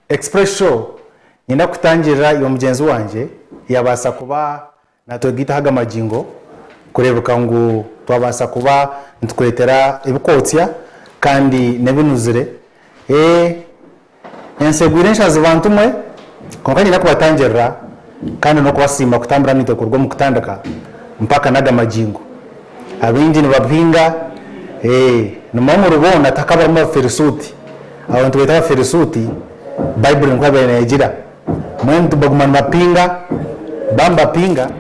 Express show niinyenda kutangirira iwe mugyenzi wangye yaabaasa kuba Natwe gaitu aha gamagingo kureebeka ngu twabaasa kuba nitukwetera ebikootsya kandi n'ebinuzire. Ee, ensi egwire enshazi bantu mwe, kwonka niina kubatangirira kandi n'okubasiima kutambura naitwe kuruga omu kutandika mpaka n'aga magingo. Abaingi nibabuhinga, ee, nimwo omuri boona tihakaburamu Abafilisuuti. Abo nitu beeta Abafilisuuti, Baibuli nikwo yaabaire neegira. Mbwenu tibaguma nibapinga, baaba nibapinga,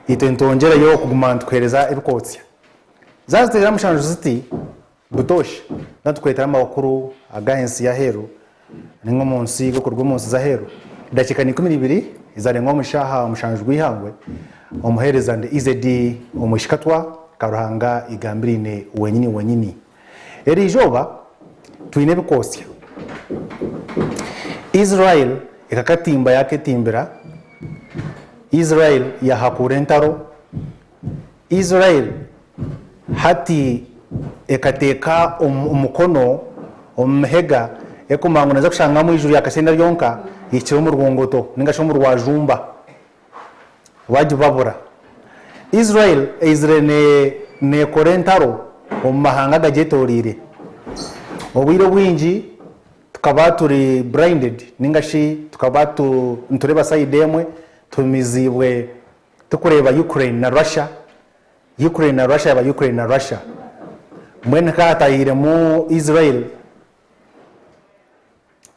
itwe nitwongyereyo kuguma nitukuheereza ebikootsya. Zaatuteera mushanju ziti butooshi, zaatukwetera amakuru aga ensi y'aheeru nainga omu nsi g'okuruga omu nsi z'aheeru, edakiika n'eikumi n'ibiri ezaarenga omuri shaaha mushanju rw'eihangwe, omuheereza ndi EZD omwishiki katwa ka Ruhanga igambiraine wenyini wenyini. Eri izooba twine ebikootsya. Israel ekakatimba yaaketimbira. Israel yaahakuura entaro. Israel hati ekateeka omukono omu mihega erikumanywa ngu neeza kushanga omu iguru ryakashenda ryonka eihikire omu rwongoto nainga shi omu rwajumba bagibabura. Israel eizire neekora entaro omu mahanga agagyetoreire. Obwire obwingi tukaba turi blinded ninga shi tukaba nitureeba side emwe, tuhumiziibwe turikureeba Ukraine na Russia, Ukraine na Russia yaaba Ukraine na Russia. Mbwenu ka hataahiremu Israel.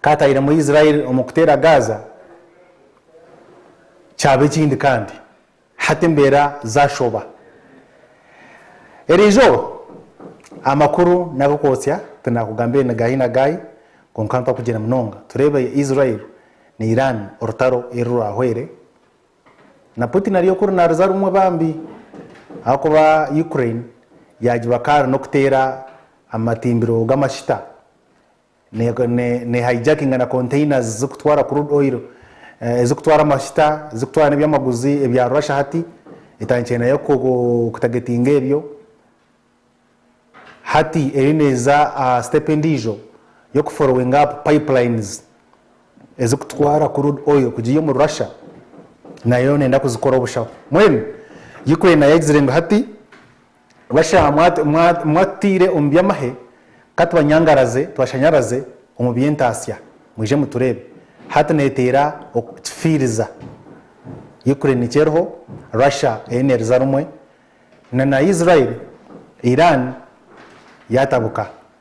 kaatairemu Israel omu kuteera Gaza, kyaba ekindi kandi hati embeera zaashoba. Erizooba amakuru n'ag'okwotsya tinaakugambire ni gaahi na gaahi, kwonka mpakugira munonga tureebe Israel na Iran orutaro eri rwahwere. Na Putin ari okuri naaruza rumwe bambi ahakuba Ukraine yaagiba kaari n'okuteera amatimbiro g'amashita. ne hijackinga na containers zirikutwara crude oil, ezirikutwara amajuta, ezirikutwara n'ebyamaguzi ebya Russia hati, etandikire nayo kutagetinga ebyo. Hati eriyo neeza aha step endiijo y'oku followinga up pipelines ezirikutwara crude oil kugiiha omuri Russia, nayo neeyenda kuzikora obushaho. Mbwenu Ukraine nayo egizire ngu hati, Bashaaha mwatutaire omu by'amahe, ka tubanyangaraze, tubashanyaraze omu by'entaasya, mwije mutureebe. Hati neeteera okukifiiriza. Ukraine nikyo eriho, Russia eriyo neeriza rumwe, na Israel, Iran yaatabuka.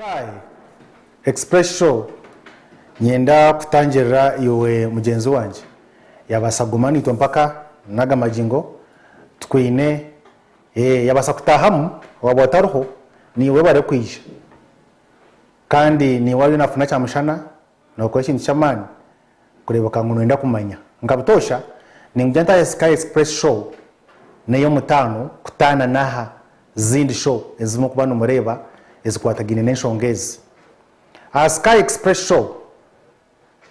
Hi express show nyenda kutangirira iwe mugyenzi wangye yabasa kuguma naitwe mpaka naga magingo tukwine eeh yabasa kutahamu waba otariho niiwe barikwija kandi niiwe ariyo nafuna kyamushana Nookora ekintu ky'amaani kureebeka ngu nooyenda kumanya. Nka butoosha, ningugya ntaahe Sky Express Show n'ey'omutaano kutaana n'aha zindi sho ezimwe okuba nimureeba ezikwatagaine n'enshonga ezi. Aha Sky Express Show,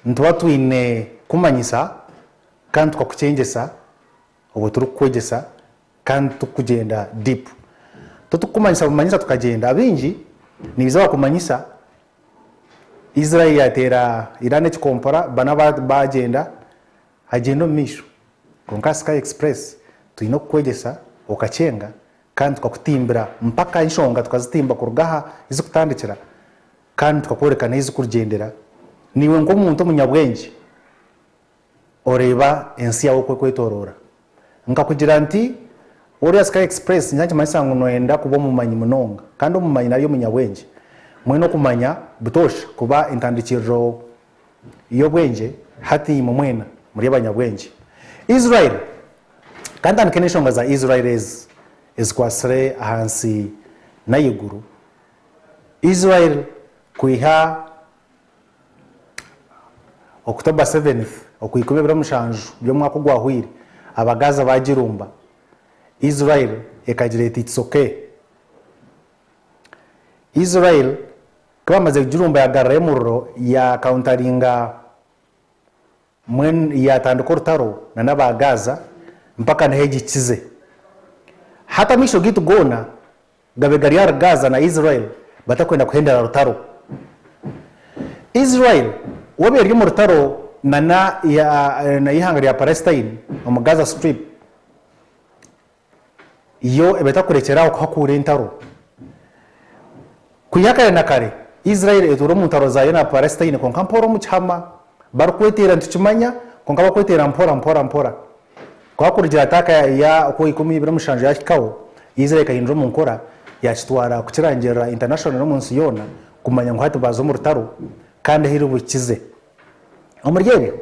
nituba twine kukumanyisa kandi tukakukyengyesa obu turikukwegyesa Kandi tukugyenda deep. Totukumanyisa bumanyisa tukagyenda abaingi nibiza bakumanyisa Israel yateera Iran ekikompora bana bagyenda hagyenda omumaisho kwonka aha sky express twine okukwegyesa okakyenga kandi tukakutimbira mpaka enshonga tukazitimba kuruga aha izikutandikira kandi tukakworeka nahu izikurugyendera naiwe nkomuntu omunyabwengye. Oreeba ensi yaawe oku ekwetooroora. Nkakugira nti, Oriya Sky Express nikiba nikimanyisa ngu nooyenda kuba omumanyi munonga. Kandi omumanyi nari omunyabwengye, mwena okumanya butoosha kuba entandikiriro y'obwengye, hati imwe mwena muri abanyabwengye. Israel! Ka ntandike n'enshonga za Israel ezi ezikwatsire aha nsi n'ahaiguru. Israel kwiha. Okutooba 7th okwa ikumi ebiro mushanju by'omwaka ogwahwaire, Abagaza baagirumba. Israel ekagira eti It's ok. Israel ku baamazire kugirumba yaagarurayo omuriro yaakauntaringa. Mbwenu yaatandika orutaro na n'aba Gaaza mpaka niho egi ekikize. Hati amaisho gaitu goona gabe gari ahari Gaaza na Israel batakwenda kuhendera rutaro. Israel waaba eri omu rutaro na n'eihanga rya Palestine omu Gaza Strip, yo eba etakurekyera aho kuhakuura entaro. Kwiha kare na kare, Israeli etuura omu ntaro zaayo na Palesitaine kwonka mpora omu kihama. Barikweteera nitukimanya, kwonka bakweteera mpora mpora mpora. Kwonka kurugira ataaka ya okwa ikumi ibiri mushanju yaahikaho, Israeli ekahindura omu nkora, yaakitwara kukirangirira international n'omu nsi yoona kumanya ngu hati baaza omu rutaro kandi ahu iri buhikize. Omuri ebyo,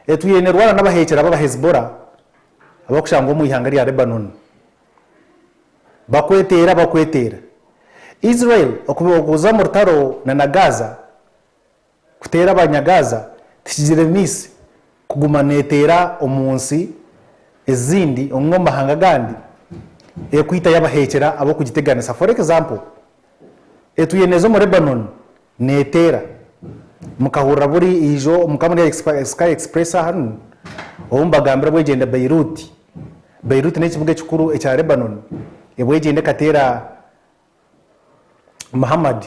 etwire neerwana n'abaheekyerabo aba Hezbollah. abarikushangwa omu ihanga rya Lebanoni bakweteera bakweteera. Israel okuguza omu rutaro na Gaza, kuteera Abanyagaza, tikigiremeise kuguma neeteera omu nsi ezindi nari omu mahanga agandi erikwitayo abaheekyera abarikugiteganisa. For example, etuyeeneza omu Lebanoni Neteera. Mukahurira buri ijo mukaba muri ahari Sky Express ahanu obu mbagambira bwegyenda Beirut. Beirut n'ekibuga ekikuru ekya Lebanon. Ebwegyenda ekateera Muhammad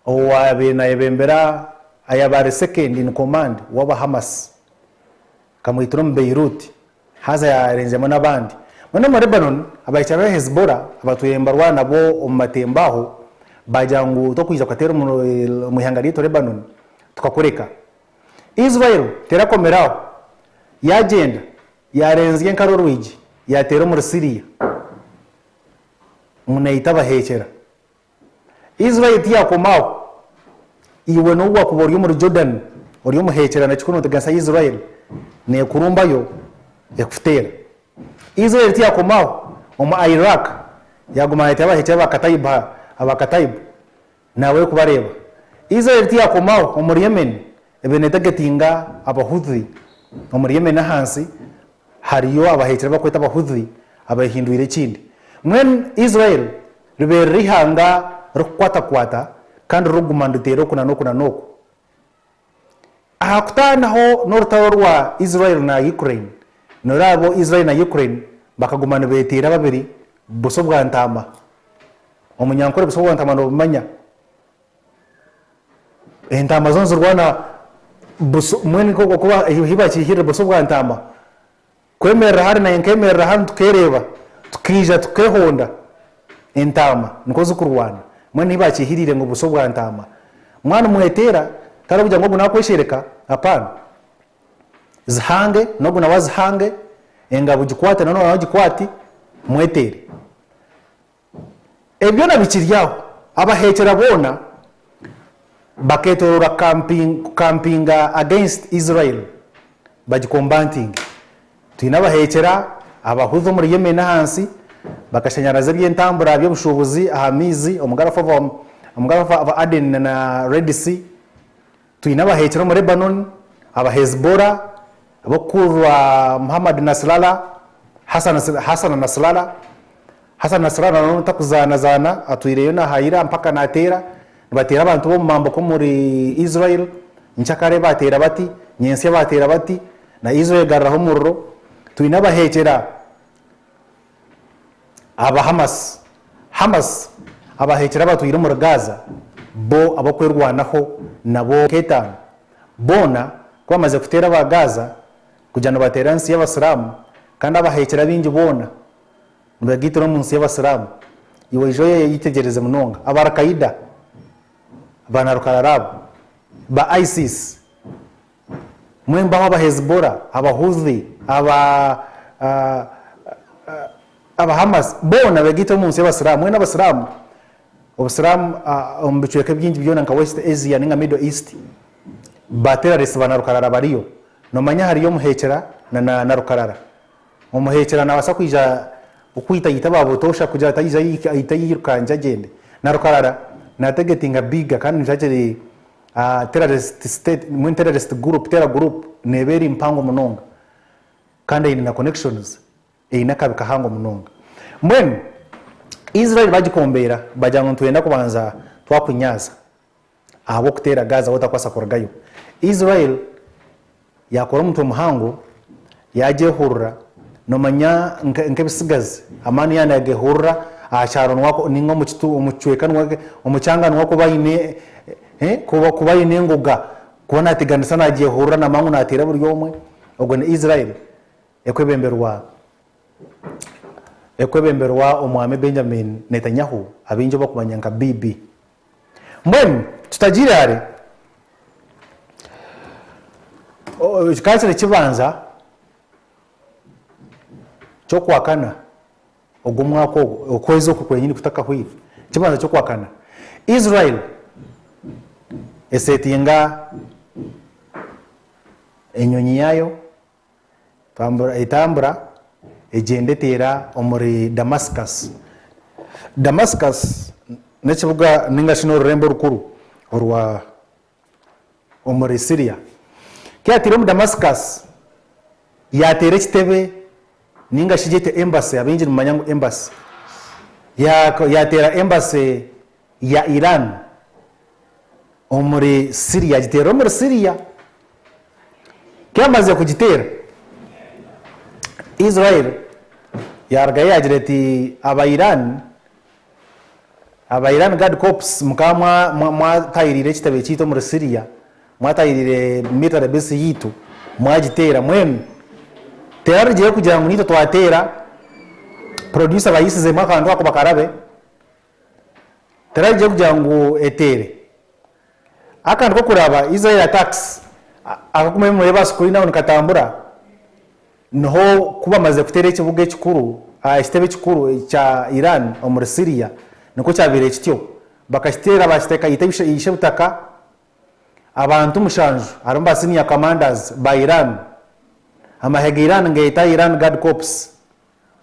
owaabaire naayebembera, ayaabaire second in command w'aba Hamas. Kamwitira omu Beirut, haza yarengyeramu n'abandi. Mbwenu omu Lebanon, abahikirira ab'e Hezbola abatwire nibarwana nabo omu matembo aho, baagira ngu, Tokwiija kukateera omu ihanga ryaitu Lebanon, tukakureka. Israel terakomire aho, yaagyenda yaarenzya enkaro orwigi, yaateera omuri Siria ngu naita abaheekyera. Israeli tiyakoma aho. Iwe n'obu wakuba ori omuri Jordan ori omuhekyerana kikuru noteganisa Israeli nekurumbayo ekutera. Israeli tiyakoma aho. Omu Iraq yaguma nayetera abahekyera ba Kataib ha aba Kataib nabo eri kubareba. Israeli tiyakoma aho omuri Yemen ebire netegetinga aba Houthi omuri Yemen ahansi hariyo abahekyera abakweta aba Houthi abehindwire ekindi. Mbwenu Israeli Ribeere riri ihanga ririkukwatakwata kandi ririkuguma niriteera oku na n'oku na n'oku. Aha kutaanaho n'orutaro rwa Israel na Ukraine, nooreeba Israel na Ukraine bakaguma nibeeteera babiri busa obwa ntaama. Omunyankore busa obwa ntaama noobumanya. Entaama zoona nizirwana busa, mbwenu nikwo ahu baakihikiirire busa obwa ntaama. Kwemerera hare naanye nkemerera hanu tukereeba, tukaija tukehonda. Entaama nikwo zikurwana. Mbwenu hi baakihiriire ngu buso bwa ntaama. Mwana omweteera, tihariho kugira ngu ogu naakweshereka, apaana. Zihange, n'ogu nawe azihange, engabo gikwate na n'ogu nawe agikwate, mweteere. Ebi byona bikiri aho, abaheekyera boona bakeetooroora kukampinga against Israel bagikombantinge. Twine abaheekyera, Abahuthi omuri Yemen ahansi bakashanyaraza eby'entambura by'obushuubuzi aha maizi omu Gulf of Aden na Red Sea. Twine abaheekire omu Lebanon, aba Hezbollah, ab'okukurirwa Mohammad Nasrallah, Hassan Hassan Nasrallah. Hassan Nasrallah na n'obu takuzaanazaana atwireyo n'aha ira mpaka naateera. Nibateera abantu b'omu mambuka omuri Israel. Nkya kare baateera bati, nyentsya baateera bati, na Israel egaruraho omuriro. Twine abaheekyera. Abahamasi, Hamas, abaheekire abatwire omuri Gaza bo ab'okwerwanaho nabo nka etaano boona ku bamaze kuteera aba Gaza kugira ngu bateere aha nsi y'Abasiraamu kandi abaheekire abaingi boona nibagaitira omu nsi y'Abasiraamu. Iweija oyetegyereze munonga aba Al-Qaeda, baana rukarara abo ba ISIS. Mwembaho aba Hezibora, aba Huthi, aba aba Hamas boona begaite omu nsi y'Abasiramu. Mwena Abasiramu, Obusiramu omu bicweka ebyingi byona nka West Asia ninga Middle East ba terrorists ba narukarara bariyo. Nomanya hariyo omuhekera na na narukarara. Omuhekera nabasa kwija okwita ayite aba butosha kugira atayija ayite ayirukangye agyende. Narukarara na targetinga bigger kandi nikyo akiri A terrorist state, mbwenu terrorist group, terror group, neeba eri mpango munonga kandi eine na connections, eine akabi kahango munonga. Mbwenu Israel bagikombeera bagira ngu nitwenda kubanza twakunyaaza ahabw'okuteera Gaza ahu otakubaasa kurugayo. Israel Yaakora omutwe muhango, yaagyehurura, noomanya nk'ebisigazi, amaani yaaba naagehurura aha kyaro nainga omu kicweka, omu kyanga niho kuba haine kuba haine engoga, kuba naateganisa naagyehurura namangu naateera buri omwe, ogwo ni Israel ekwebemberwa ekwebemberwa omwami Benjamin Netanyahu abaingi obu bakumanya nka Bibi. Mbwenu tutagiire hare, kikaba kiri ekibanza ky'okuhakana ogwo mwaka ogwo, okwezi okwo kwenyini kutakahwaire, ekibanza ky'okuhakana. Israel esetinga enyonyi yaayo Tambura, etambura egyenda eteera omuri Damascus. Damascus n'ekibuga ninga shi n'orurembo orukuru orwa omuri Syria. Ku yaatiire omu Damascus, yaateera ekitebe ninga shi gyete embassy, abaingi nimumanya ngu embassy, yaateera embassy. ya Iran omuri Syria agiteerire omuri Syria. Ku yaamazire kugiteera, Israel yaarugayo yaagira eti, Aba Iran, aba Iran Guard Corps mukaba mwatahiriire ekitebe kyaitu omuri Syria, mwatahiriire military base yaitu mwagiteera, mbwenu tiharigireho kugira ngu naitwe twateera, producer baayisizeemu akantu ako bakarabe. Terarije kugira ngu eteere. Akandi kokuraba Israel attacks akaguma ebimuri eba sukuri nawe nikatambura niho kubamaze kutera ekibuga ekikuru ekitebe ekikuru ekya Iran omuri Syria nikwo kyabire kityo bakakitera bakiteka ishe butaka abantu mushanju harimu ba senior commanders ba Iran amahega Iran ngeyeta Iran guard corps,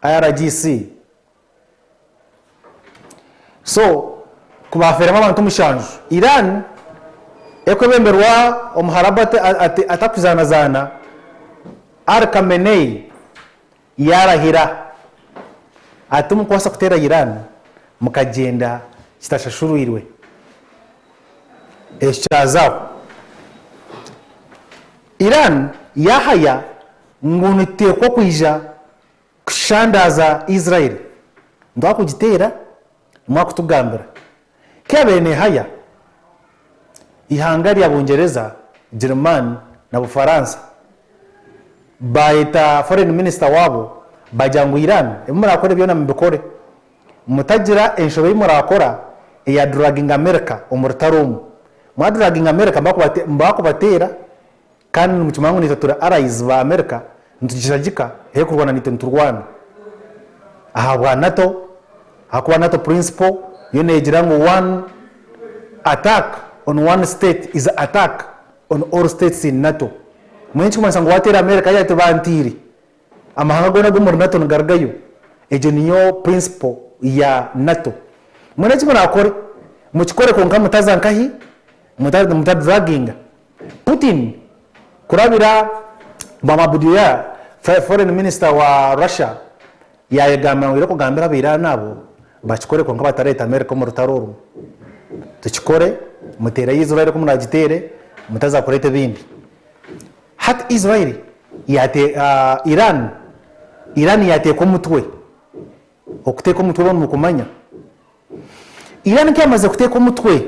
IRGC. So ku baafeeremu abantu mushanju. Iran ekwebemberwa omuharabu atakuzaanazaana Ali Khamenei yaarahira ati timukubaasa kuteera Iran mukagyenda kitashashurwirwe. Ekyo kyazaaho, Iran yaahaya ngu nituteekwa kwija Kushandaaza Israeli ngu akugiteera niwe akutugambira. Ku yaabaire neehaya eihanga rya Bungyereza, Girimaani na Bufaransa, baayeta Foreign Minister waabo baagira ngu Iran ebi murakore byona mubikore, mutagira enshobe ei murakora eya dragging America omu rutaro omu. Mwa dragging America nibakubateera. Kandi nimukimanya ngu naitwe turi allies ba America nitugishagika hee kurwana naitwe niturwana ahabwa nato ahakuba nato principle yo negira ngu one attack on one state is attack on all states in nato mbwenu ekirikumanyisa ngu wateera America hati bantiire Amahanga goona g'omuri Nato nigarugayo. Egyo niyo principle ya Nato. Mwena eki murakore, mukikore kwonka mutaza nkahi? Muta draginga Putin kurabira bwamabudyo ya foreign minister wa Russia yayegambira ngu aine kugambira abairani abo bakikore kwonka batareta America omu rutaro orwo. Tukikore, mutereyo Israel ku muragitere, mutaza kureta ebindi. Hati Israel yateeka Iran, Iran yateeka omutwe, okuteeka omutwe mbwenu mukumanya, Iran ku yamaze kuteeka omutwe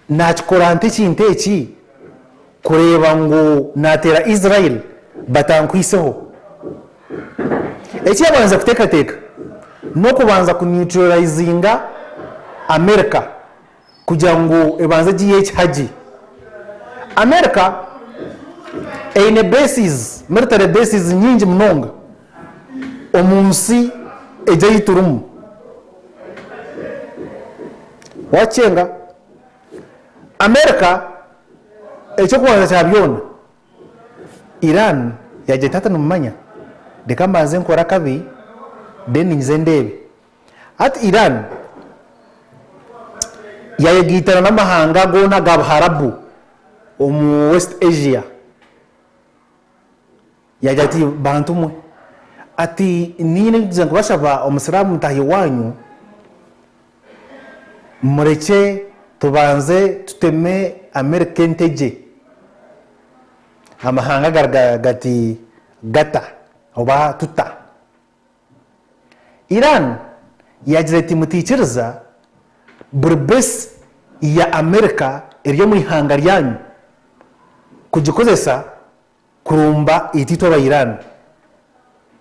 nakikora nte ekintu eki kureeba ngu nateera Israel batankwiseho? Eki yabanze kuteekateeka n'okubanza ku neutralizinga America. kugira ngu ebanze egiiyeho ekihagi. America eine bases, military bases nyingi munonga omu nsi egi ei turimu. Waakikyenga, America eky'okubanza kya byona Iran yaagira eti hati nimumanya reka mbanze nkore akabi then nze ndeebe. Hati Iran yayegaitana n'amahanga goona aga Buharabu omu West Asia yaagira ati, bantu mwe, ati niine kugira kubashaba omusiraamu mutaahi waanyu, murekye tubanze tuteme Amerika entegye, amahanga gari gati gata oba tuta. Iran yaagira eti, Mutaikiriza buri base ya Amerika eri omu ihanga ryanyu kugikozesa kurumba itaitwe aba Iran.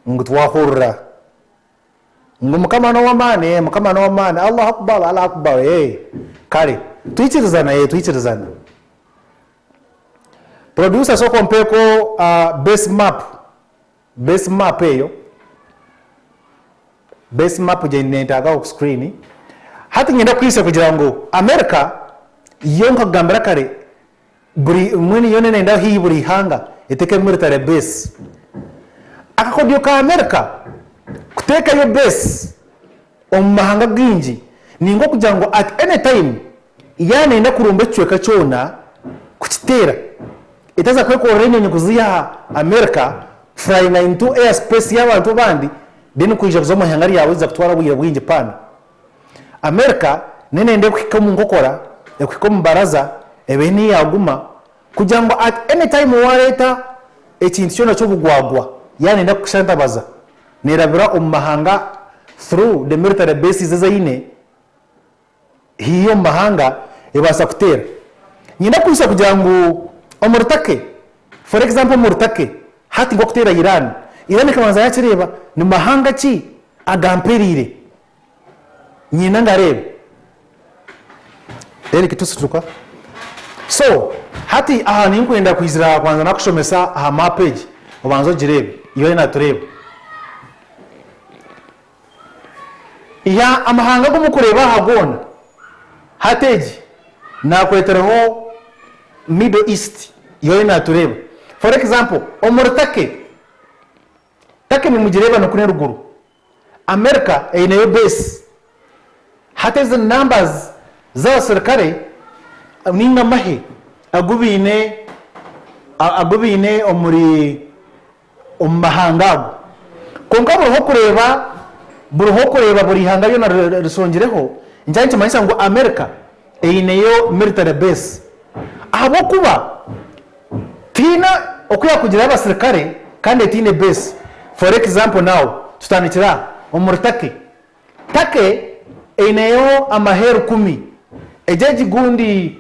Ngu twahurira. Ngu Mukama n'ow'amaani, ee, Mukama n'ow'amaani, Allahu Akbar, Allahu Akbar, ee, kare. Twaikirizana, ee, twaikirizana. Producer sooka ompeeko base map Base map eyo base map gye nentagaho ku screen hati nyenda kuhitsya kugira ngu America yo nkakugambira kare buri mbwenu yo nenendaho hihi buri ihanga etekemu military base akakodyo ka America kutekayo base Omu mahanga againgi, ni nk'okugira ngu at any time yaaba neeyenda kurumba ekicweka kyona kukiteera, etaaza kwekorera enyonyi kuziiha aha America, flyinga into air space y'abantu abandi, then kwija kuza omu ihanga ryaawe ziza kutwara obwire bwingi paana. America neneenda ekuhike omu nkokora, ekuhike omu baraza, ebehe niho yaaguma. Kugira ngu at any time wareeta ekintu kyona ky'obugwagwa yaba neyenda kukushantabaza nerabira omu mahanga through the military bases ezi aine hihi omu mahanga ebaasa kuteera. Niinyenda kuhitsya kugira ngu omuri Turkey for example omuri Turkey hati nk'okuteera Iran, Iran ekabanza yakireeba ni mahanga ki agampereire. Nyine nga reeba then kitusituka so hati aha ninkwenda kwizira aha kwanza nakushomesa aha map egi obanze ogireebe iyo ariyo natureeba ya amahanga agu mukureeba aha goona hati egi nakwetireho middle east iyo ariyo natureeba for example omuri turkey turkey nimugireeba nikunu eruguru Amerika eineyo beesi. Hati ezi ni numbers z'abasirikare ninga amahe agu baine agu baine omuri omu mahanga ago. Kwonka buriho kureeba buriho kureeba buri ihanga ryona risongireho nikiba nikimanyisa ngu Amerika eineyo military base ahabw'okuba Tihaine oku yaakugirayo abasirikare kandi etaine beesi. For example now, tutandikire aha, omuri Turkey. Turkey eineyo amaheeru kumi. Egyo egi gundi,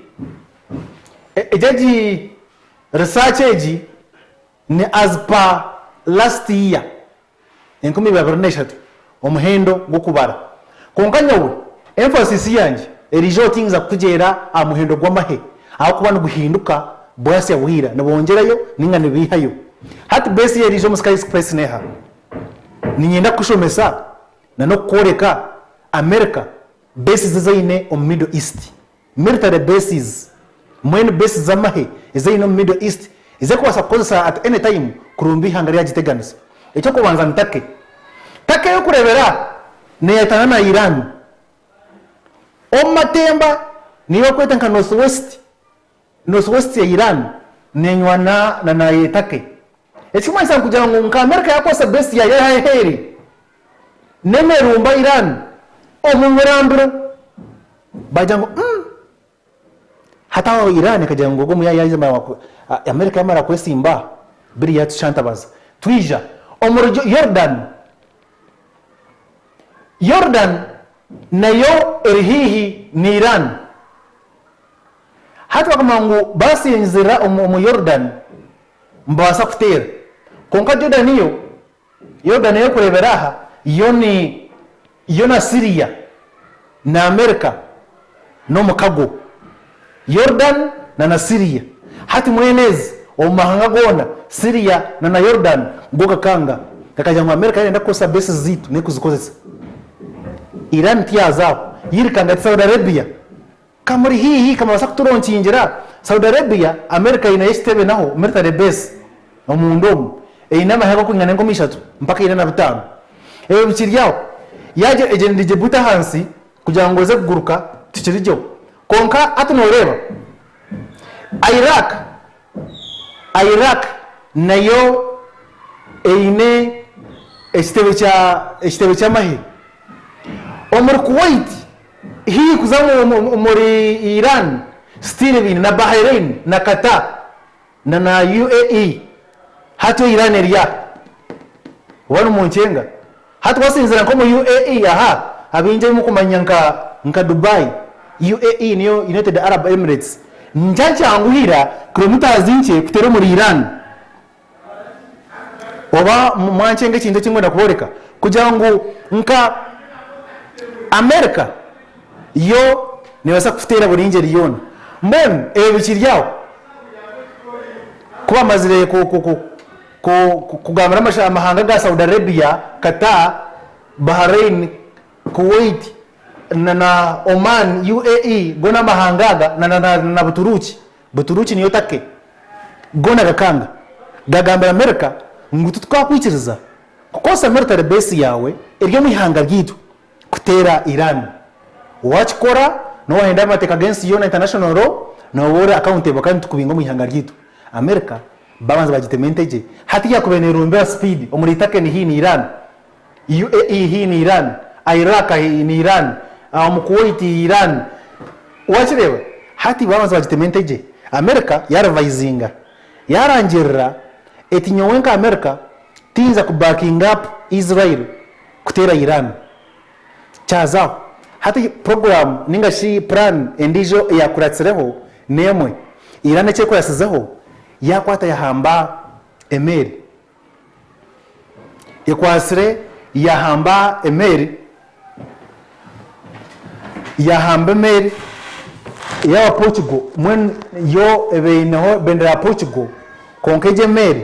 egyo egi research egi ni as per last year. enkumi ibabiri na ishatu omuhendo gw'okubara. Kwonka nyowe emphasis yangye eriija oti ninza kukugyeera aha muhendo gw'amahe ahakuba niguhinduka bwasya bwira nibongyerayo ninga nibeihayo. Hati base ye eriija omu Sky Express neha? Ninyenda kukushomesa na n'okukworeka America bases ezi aine omu Middle East military bases, mine bases z'amahe ezi aine omu Middle East ezi arikubaasa kukozesa at any time kurumba eihanga eri yagiteganisa. Eky'okubanza ni Turkey. Turkey ey'okureebera aha neeyetaana na Iran omu matemba n'eyi barikweta nka North West, North West ya Iran neenywana na Turkey. Ekirikumanyisa nikugira ngu nka America yaakozesa base yaayo aheeru N'emerumba Iran omu murambiro baagira ngu umm hati aho Iran ekagira ngu ogwo muyaayi yaaza mara America yaamara kwesimba biri yaatushantabaza twija omuri Yordan. Yordan nayo eri haihi na Iran. Hati bakamanya ngu baasinzirira omu Yordan nibabaasa kuteera. Kwonka Jordan yo Yuda n'erikureebera aha Yoni, yo na Siria na Amerika n'omukago, Yordani na na Siria. Hati mwene ezi omu mahanga goona, Siria na na Yordani go gakanga, gakagira ngu Amerika neeyenda kukoresa bases zaitu n'erikuzikoresa. Iran tiyaazaho, yairikanga eti Saudi Arabia Ka muri haihi, ka mubaasa kuturonkiingira. Saudi Arabia, Amerika eineyo ekitebe naho military base omunda omu, eine amahega okuringa n'enkumi ishatu mpaka ina na bitaano. Ebyo bikiri aho, yaagira egyende Djibouti ahansi kugira ngu eze kuguruka tikiri gyeho. Kwonka hati nooreeba Iraq, Iraq nayo eine ekitebe kya, ekitebe ky'amahe omuri Kuwait, Haihi kuza omuri Iran, still baine na Bahrain na Qatar na na UAE. Hati o Iran eri aha? Oba ni munkyenga? Hati wasinzira nka omu UAE aha, abaingi abu mukumanya nka nka Dubai, UAE niyo United Arab Emirates, nikya kyanguhira kilometres nkye kutera omuri Iran. Oba mwankyenga ekintu eki nkwenda kubooreka kugira ngu nka Amerika yo neebaasa kukuteera buri ngyeri yoona. Mbwenu ebyo bikiri aho, ku baamazire kugambira amahanga ga Saudi Arabia, Qatar, Bahrain, Kuwait, Oman, UAE, goona amahanga aga na Buturuuki, Buturuki niyo Turkey goona gakanga gagambira Amerika ngu titukakwikiriza kukoresa military base yaawe eri omu ihanga ryaitu kuteera Iran. Waakikora nooba noohenda amateeka g'ensi yoona, international law, nooba ori accountable kandi nitukubiinga omu ihanga ryaitu. Amerika baabanza baagitema entegye. Hati yaakubaire neerombera speed omuri Turkey ni haihi na Iran. UAE haihi na Iran, Iraq haihi na Iran, omu Kuwait haihi Iran. Wakireeba? Hati baabanza baagitema entegye. America yaarivayizinga. Yaarangirira eti, Nyowe nka America tiyinza kubackinga up Israel kuteera Iran. Kyaza aho. Hati puroguraamu nainga shi puraani endiijo eyaakuratsireho n'emwe. Iran eki ekuratsizeho, yaakwata yaahamba emeeri. Ekwatsire yaahamba emeeri, yaahamba emeeri ey'aba Portugal mbwenu yo eba eineho bendera ya Portugal kwonka egi emeeri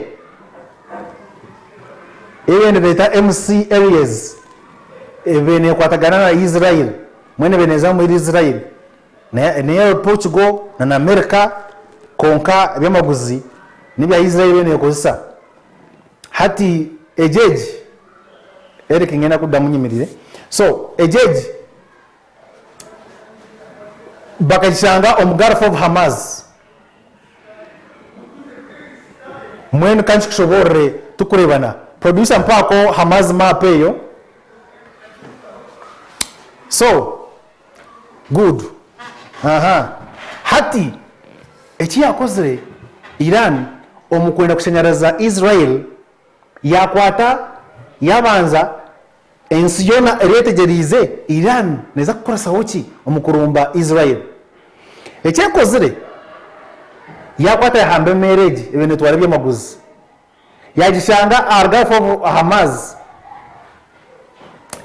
ei babaire nibeeta MC Aries ebaire neekwatagana na Israel mbwenu ebaire neeza omuri Israel Neyo Portugal na America kwonka ebyamaguzi nebya Israel yo nekozesa hati egi egi Eric ngenda kudamu nyemerire so egi egi bakagishanga omu Gulf of Hamaz mbwenu kankikushoborere tukurebana producer mpako Hamaz map eyo so Good aha hati eki yakozire Iran omukwenda kushanyaraza Israel yakwata yabanza ensi yoona eri etegyereize Iran neza kukoresaho ki omukurumba Israel eki ekozire yakwata yahamba emeere egi ebinetwara ebyamaguzi. Yaagishanga aharugaho obu aha maazi,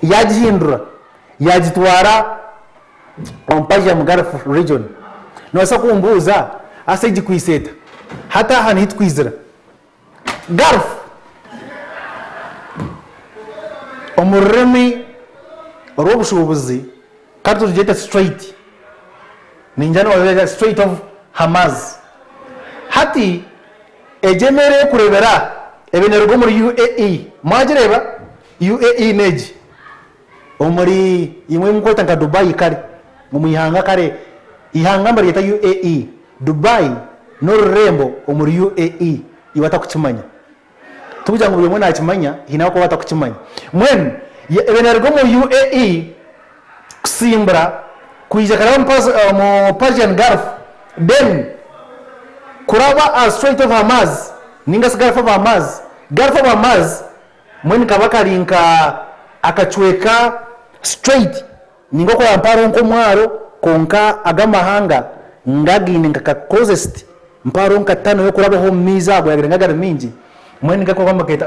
yaagihindura yaagitwara omu Persian Gulf region. Noobaasa kumbuuza ase egikwitse eta? Hati aha nihi twizira? Gulf omu rurimi orw'obushuubuzi ka tugyete strait, niinyija noobaza strait of Hamaz. Hati Egi emeeri erikureebera aha ebe neeruga omuri UAE. Mwagireeba? UAE n'egi omuri imwe eimukweeta nka Dubai kare, omu ihanga kare ihanga nibaryeta UAE. Dubai n'orurembo omuri UAE, iwe atarikukimanya. Tikugira ngu buri omwe naakimanya, haine abarikuba batarikukimanya. Mbwenu ebe neeruga omuri UAE. kusimbura kwija kuraba omu Persian Gulf, then kuraba aha Strait of Hormuz ninga shi Gulf of Hormuz. Gulf of Hormuz mbwenu kaba kari nka akacweka straight ninga okuraba mpaho hariho nk'omwaro kwonka ago amahanga nga gaine nka ka closest mpaho hariho nka tunnel y'okurabaho omu maizi ago yaabaire nga gari maingi mbwenu ninga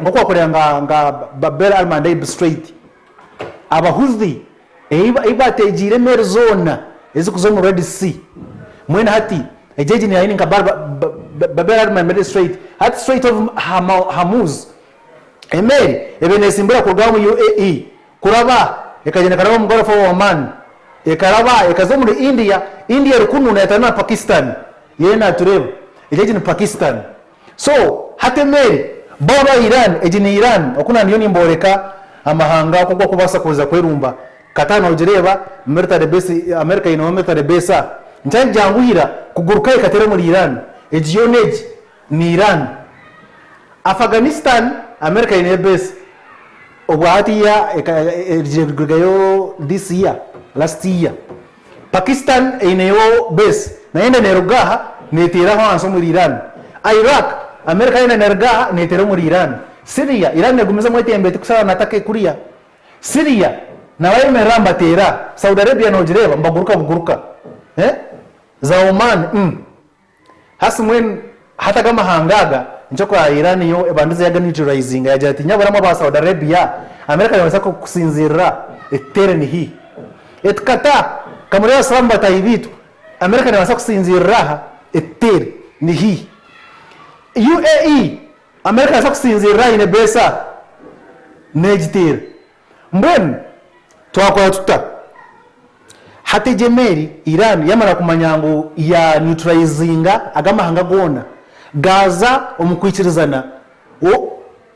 nk'oku wakureeba nka Bab el Mandeb Strait. Abahuthi ei baateegiire emeeri zoona ezirikuza omu Red Sea. Mbwenu hati egi egi niyo Ain Kabar, Bab el Arma Mediterranean Strait, hati Strait of Hormuz. Emeeri ebaire neetsimbura kuruga omu UAE kuraba ekagyenda ekaraba omu Gulf of Oman, ekaraba ekaza omuri India. India eri kunu neeyetanira na Pakistan, yoona naatureeba. Egi egi ni Pakistan. So hati emeeri bo aba Iran egi ni Iran oku nandiyo nimboreka amahanga oku gakubaasa kuza kwerumba Qatar nogireeba military base America eineho military base a nikyari kyangu ira kuguruka ekateera omuri Iran egi yoona egi ni Iran Afghanistan America eineyo base obwahati ya erugire kurugayo this year last year Pakistan eineyo base nayo enda neruga aha neteera aho ahansi omuri Iran. Iraq, America yenda neruga aha neteera omuri Iran. Syria, Iran negumizamu etembe eti kusara na take kuriya. Syria, nabayemerera aha nibateera. Saudi Arabia nogireeba nibaguruka buguruka. Za Oman, umm. Hasi mbwenu hati aga amahanga aga nikyo ku Iran yo ebandize yaga neutralizinga yagira ati nyabura mwe aba Saudi Arabia America nebabaasa kusinzirira etuteere ni hi? Eti kata ka murebe abasilamu bataahi baitu America nebaasa kusinzirira aha etuteere ni hi? UAE America nebaasa kusinzirira aha aine base aha negiteera Mbwenu twakora tuta? Hati egi emeeri, Iran, yamara kumanya ngu ya neutralizinga aga amahanga goona, gaaza omu kwikirizana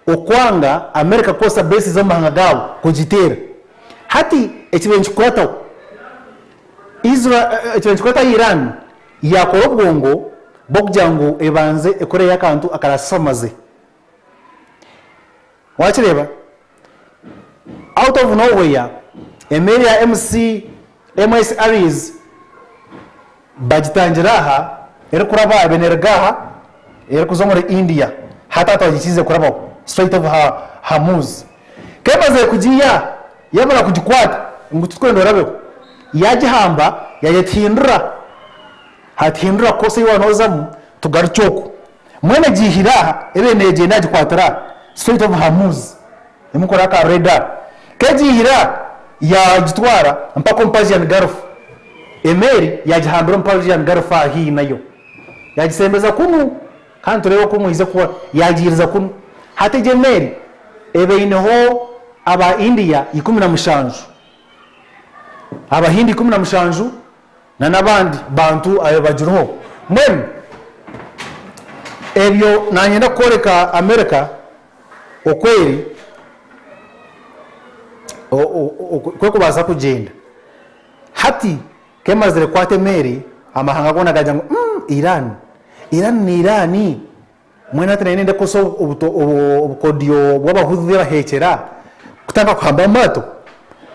okwanga America kukoresa bases omu mahanga gaabo kugiteera. Hati ekibaire nikikurataho Iran, yaakora obwongo bw'okugira ngu ebanze ekore akantu akarasamaze. Wakireeba? Out of nowhere emeeri ya MC MS Aries bagitangira aha erikuraba ebe neruga aha erikuza omuri India hati aha twagikiize kurabaho Strait of Hormuz k'emazire kugiiya yamara kugikwata ngu titwenda orabeho yagihamba yayetihindura hati hindura course ei waaba nozamu tugarukye oku. Mbwenu egi ihire aha, ebe neegyenda yagikwatira aha, Strait of Hormuz, erimu kukora aka radar. Ku egi ihire aha, yaagitwara mpaka omu Persian Gulf. Emeeri yaagihambira omu Persian Gulf aha haihi nayo. Yaagisembeza kunu, kandi nitureeba oku mwaize kuba yaagiiriza kunu. Hati egi emeeri eba eineho aba India ikumi na mushanju, Abahindi ikumi na mushanju, Na n'abandi bantu abe bagiriho. Mbwenu ebyo nanyenda kukworeka America oku eri, oku erikubaasa kugyenda. Hati ku emazire kukwata emeeri, amahanga goona gagira ngu, Umm, Iran! Iran ni Iran! Mbwenu hati naanye nindekoresa obukodyo bw'Abahuthi abaheekyera kutandika kuhamba amaato.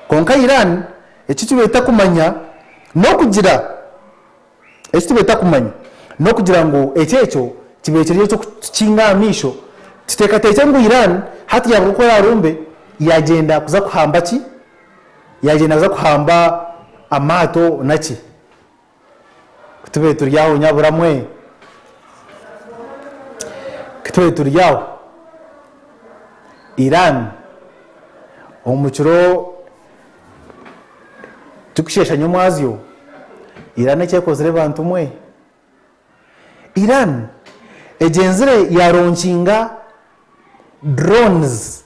Kwonka Iran eki kibeeta kumanya n'okugira eki tibeeta kumanya n'okugira ngu eki ekyo kibeire kiri eky'okutukinga aha maisho tuteekateekye ngu Iran hati yaaruga oku eraarumbe yaagyenda kuza kuhamba ki? Yaagyenda kuza kuhamba amaato naki? Ku tube turi aho nyabura mwe. Ku tube turi aho. Iran omu kiro turikusheesha nyomwazyo. Iran eki ekozire bantu mwe. Iran egyenzire yaaronkinga drones.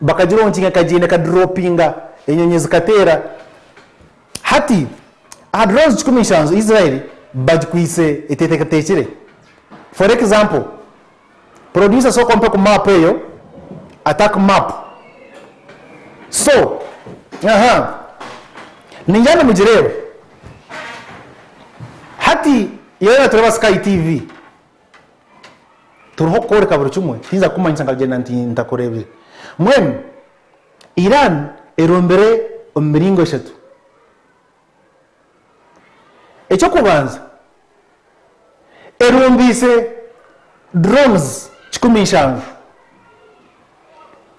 bakagira omu nkinga ekagyenda ekadiropinga enyonyi zikateera hati aha drones kikumi nshanju Israel bagikwitse eteteekateekire for example producer sooka ompe ku map eyo attack map so aha ningira nimugireeba hati yoona nitureeba sky TV. Turiho kukworeka buri kimwe, tihikiriza kukumanyisa nkagenda nti ntakureebire. Mbwenu Iran erombire omu miringo eshatu. Eky'okubanza, erombeise drones kikumi nshanju.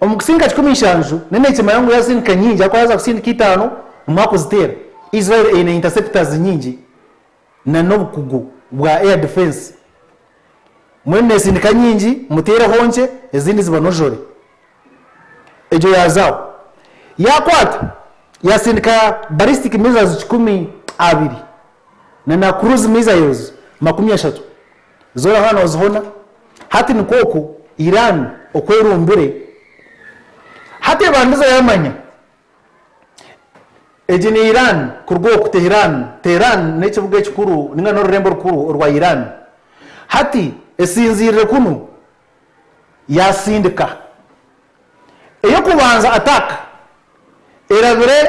Omu kusindika kikumi nshanju, nayo neekimanya ngu yaasindika nyingi ahakuba yaaza kusindika itaano, nimuha kuziteera. Israel eine interceptors nyingi. na n'obukugu bwa air defence. Mbwenu nesindika nyingi mutereho nkye ezindi zibanojore. Egyo yazaho yakwata yasindika ballistic missiles kikumi abiri na na cruise missiles makumi ashatu zona hona nozihona. Hati nikwo oku Iran okwerumbire hati ebandiza yamanya. Egi ni Iran, kuruga oku Tehran, Tehran n'ekibuga ekikuru ninga n'orurembo rukuru orwa Iran. Hati esinziirire kunu yaasindika ey'okubanza attack erabire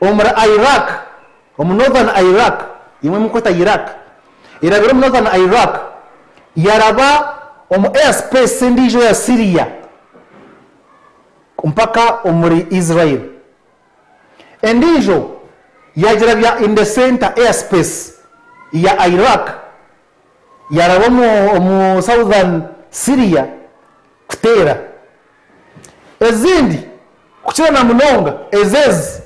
omuri Iraq, omu Northern Iraq, imwe murikweta Iraq, erabire omu Northern Iraq, yaraba omu airspace endiijo ya Syria. mpaka omuri Israel endiijo yaagira bya in the centre airspace ya Iraq yaaraba omu southern Syria kuteera ezindi kukira na munonga ezo ezi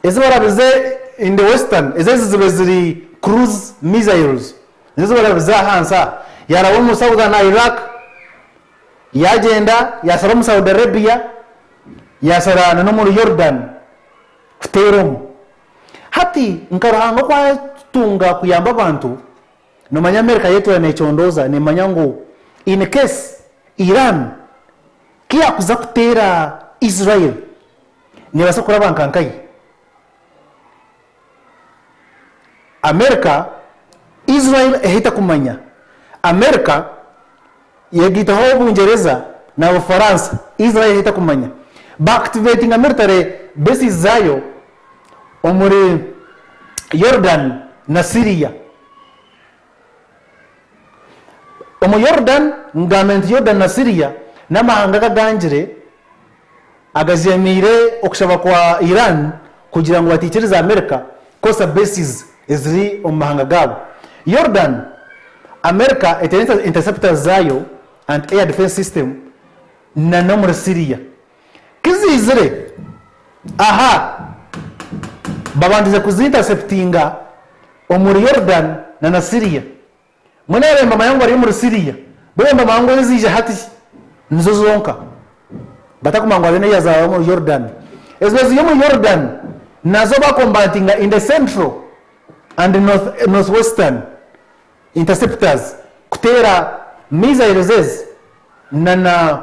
ezi barabize in the western ezo ezi zibe ziri cruise missiles nizo ezi barabize ahansi aha yaaraba omu southern Iraq Yaagyenda yaashara omu Saudi Arabia, yaashara n'omuri Yordan kuteera omu. Hati nka Ruhanga oku atunga kuyamba abantu, noomanya America yeetuura neecondooza neemanya ngu in case Iran ku yaakuza kuteera Israel neebaasa kuraba nka nkaye. Amerika, Israel ehita kumanya. Amerika yegitaho Bungyereza na Bufaransa, Israel ehita kumanya. Ba activatinga military bases zaayo omuri Yordan na Syria. Omu Yorudani, nigambe nti Yorudani na Siriya, n'amahanga aga agangire agajemeire okushaba kwa Iran kugira ngu bataikiriza Amerika kukoresa bases eziri omu mahanga gaabo. Yorudani, Amerika eteire interceptors zaayo, anti-air defense system, nana omuri Siriya. Kiziizire aha babandize kuziintaseputinga omuri Yorudani na na Siriya. Mbwenu aha bemba amahanga bari omuri Siriya, bo bemba amahanga oru ziija hati nizo zonka, batakumanya ngu hariyo n'eyazaarwa omuri Yorudani. Ezo eziri omuri Yorudani nazo bakombantinga in the central and northwestern interceptors kuteera missiles ezi na na.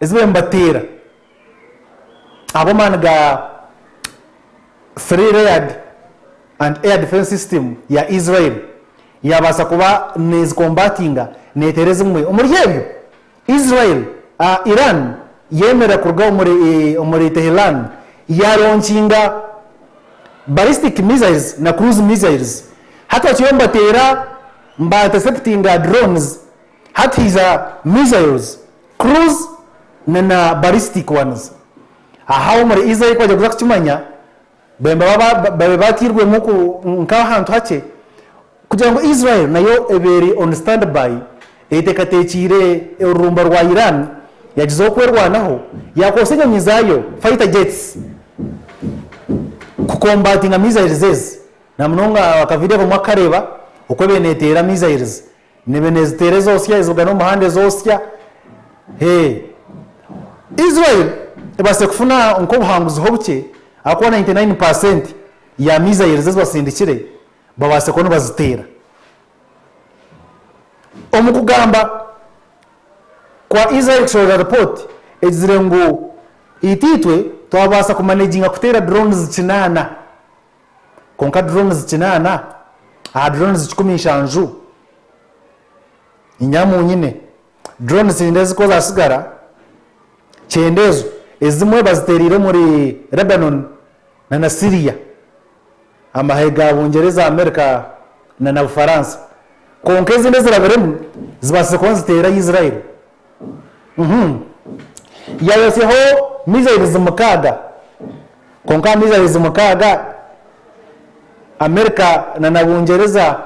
Ezi bariyo nibateera ahabw'amaani ga Three Layered Anti-Air Defence System ya Israel, yaabaasa kuba neezikombatinga neeteera ezimwe omuri ebyo. Israel, Iran yeemerera kuruga omuri Tehran yaaronkinga ballistic missiles na cruise missiles. Hati bakiriyo nibateera, nibainterceptinga drones Hati haija missiles, cruise na na ballistic ones. Aho omuri Israel kwagya kuza kukimanya, bemba babe batairwemu ku nk'ahantu hakye kugira ngu Israel nayo ebe eri on standby eyeteekateekiire orurumba rwa Iran yagyezaho kwerwanaho, yaakoresa enyonyi zaayo, fighter jets, ku combatinga missiles ezi. Na munonga akavidiyo akamwe kukareeba oku ebe neeteera missiles Nibe nezitera ezosya ezibugana omuhanda ezosya hee Israel ebase kufuna nkobuhanguzi ho bukye ahakuba 99 percent ya missiles ezibasindikire babase kuba nibazitera Omukugamba Kwa Israel kushorora report egizire ngu itaitwe twabasa ku managinga kutera drones kinana kwonka drones kinaana aha drones kikumi nshanju inyamu nyine drones cyenda ezi ku zasigara kyenda ezo ezimwe bazitereire omuri Lebanon na na Syria amahe ga Bungyereza America na na Bufaransa kwonka ezindi ezirabiremu zibatsire kuba niziteera Israel Yayotsyaho mizairizi mukaaga. Kwonka aha mizairizi mukaaga, Amerika na Bungyereza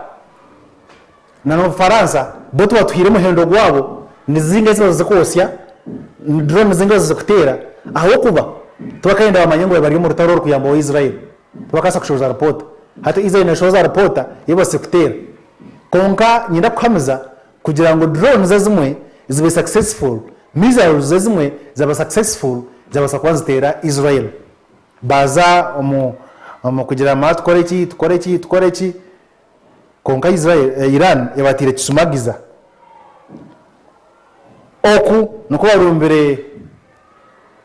na Obufaransa bo tibatuhaire muhendo gwabo. Ni zinga ezi bazoire kwotsya, ni drooni zinga bazoire kuteera ahabw'okuba tibakaayenda bamanye ngu bari omu rutaro orukuyamba owa Israeli. Tibakabaasa kushohoza ripoota. Hati Israeli neeshohoza ripoota ei ebatsire kuteera. Kwonka niinyenda kukuhamiza Kugira ngu drones ezimwe zibe successful, missiles ezimwe zaba successful zabaasa kuba niziteera Israel. Baaza omu omu kugira ngu ma tukore ki, tukore ki, tukore ki, kwonka Israel, Iran ebataire kishumagiza. Oku nikwo barumbire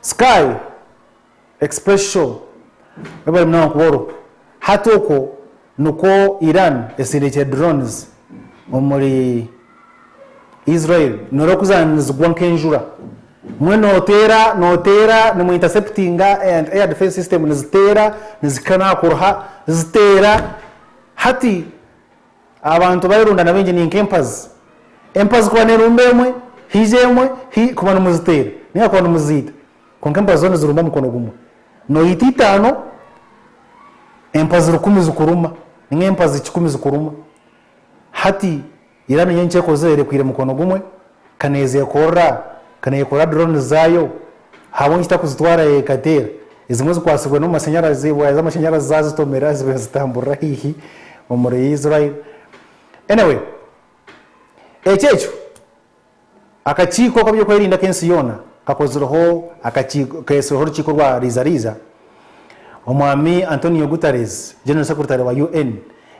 Sky Express Show Webale munonga kuboorwa. Hati okwo nikwo Iran esindiikire drones omuri Israel noreeba ku zaabaire nizigwa nk'enjura. Mbwenu nooteera nooteera nimu interceptinga and air defence system niziteera nizihika n'aha kuruha ziteera. Hati Abantu baayerundana baingi ni nk'empazi. Empazi kuba neerumba emwe, haija emwe, hi, kuba nimuziteera nainga kuba nimuziita. Kwonka empazi zoona nizirumba mukono gumwe. Nooyita itaano, empazi rukumi zikuruma, nainga empazi kikumi zikuruma. Hati ira niinye nkyekozire, erekwire mukono gumwe. Ka neezekorera, ka neekorera drones zaayo, ahabw'enki takuzitwara yekateera? Ezimwe zikwasibwe n'amashanyarazi, waaya z'amashanyarazi zaazitomera zibe nizitamburira haihi omuri Israel. Anyway, ekyo ekyo akakiiko k'eby'okwerinda ak'ensi yoona kakozireho akakiiko, keesireho orukiiko rwa riizariiza. Omwami Antonio Guterres, General Secretary wa UN,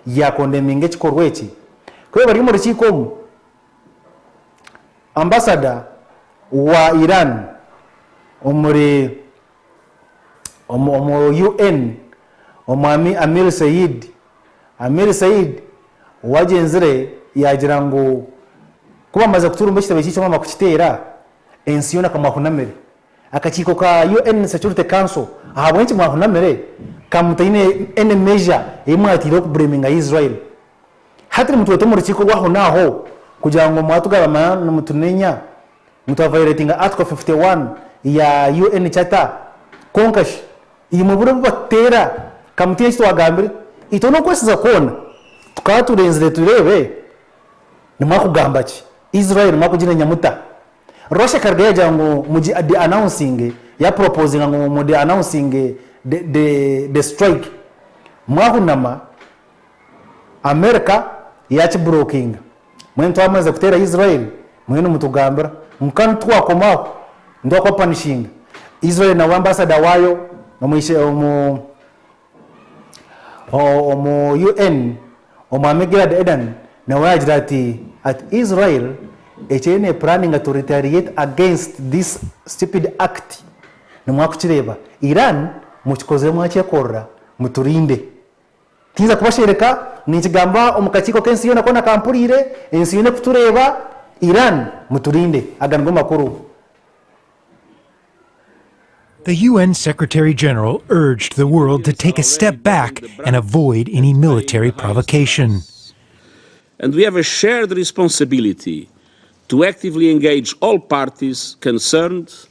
yaakondeminga ekikorwa eki. Ku bariyo omu rukiiko omu, Ambasada wa Iran omuri omu omu UN, Omwami Amir Seid Amir Seid owagyenzire yaagira ngu ku baamaze kuturumba ekitebe ky'eishe baamara kukiteera, ensi yoona ka mwahunamire. Akakiiko ka UN Security Council ahabw'enki mwahunamire ka mutaine any measure ei mwateireho kublaminga Israel Hati nimutweta omu rukiiko rw'ahonaaho kugira ngu mwatugarama nimutunenya ngu twa vayoletinga Article fifty one ya UN Charter. Kwonka shi imwe buri obu batuteera ka mutiine eki twagambire? Itwe n'okwesiza kwona tukaba turenzire tureebe nimwakugamba ki? Israel mwakuginenya muta? Russia ekarugayo yagira ngu mugi de-announcinge, ya propozinga ngu mu de-announcinge the strike. Mwahunama America yakiburokinga mbwenu twamariza kuteeraho Israel muriyo nimutugambira ngu kanu titwakomaho nitwa kwapanishinga Israel na ambassador waayo omu UN omwami Gilad Erdan nawe yaagira ati ati Israel eki eriyo neepuraninga to retaliate against this stupid act nimwakukireeba Iran mukikozire mwakyekorera muturinde. Tinza kubashereka, ninkigamba omu kakiiko k'ensi yoona koona ka mpuriire, ensi yoona ekutureeba, Iran muturinde. Aga nigo makuru. The UN Secretary General urged the world to take a step back and avoid any military provocation. And we have a shared responsibility to actively engage all parties concerned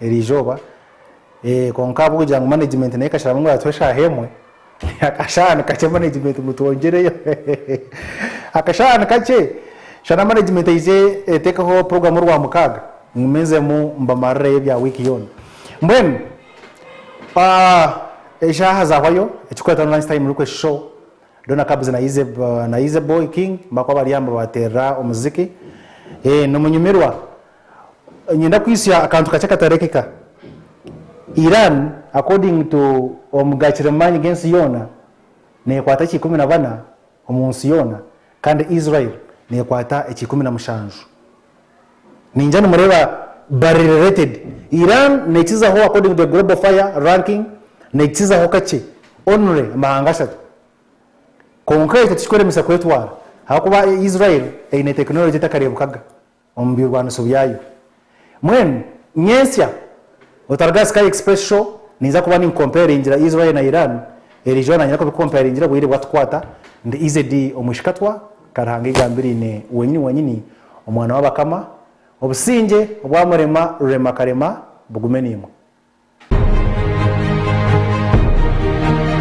eri izooba kwonka ahabw'okugira ngu manegimenti nayo ekasharamu ngu yatuha eshaaha emwe, akashaaha nikakye manegimenti ngu twongyereyo akashaaha nikakye shana manegimenti eize etekeho puroguramu orwamukaaga ngume nzemu mbamarireyo ebya wiiki yoona. Mbwenu eshaaha zaahwayo ekirikuretaho ni lunch time ruko eshisho reero na kabuzi na Izebo King bakuba bari aho nibabateerera omuziki n'omunyumirwa Niinyenda kwitsya akantu kakye katareekeka. Iran according to omu gaakira omu maani g'ensi yoona neekwata ekya ikumi na bana omu nsi yoona kandi Israel neekwata ekya ikumi na mushanju. Niingira nimureeba bari related. Iran neekizaho according to the global fire ranking neekizaho kakye only amahanga ashatu. Kwonka ekyo tikikworemesa kwetwara ahabw'okuba Israel eine technology etakareebekaga omu birwaniso byayo. Mbwenu nyentsya Otaruga aha Sky Express Show ninza kuba ninkompayaringira Israel na Iran, eri izooba nagira kubikompayaringira obwire bwatukwata ndi izedi omu ishikatwa Karuhanga igambiraine wenyini wenyini omwana w'abakama Obusingye obwa Murema Rurema Karema bugume niimwe.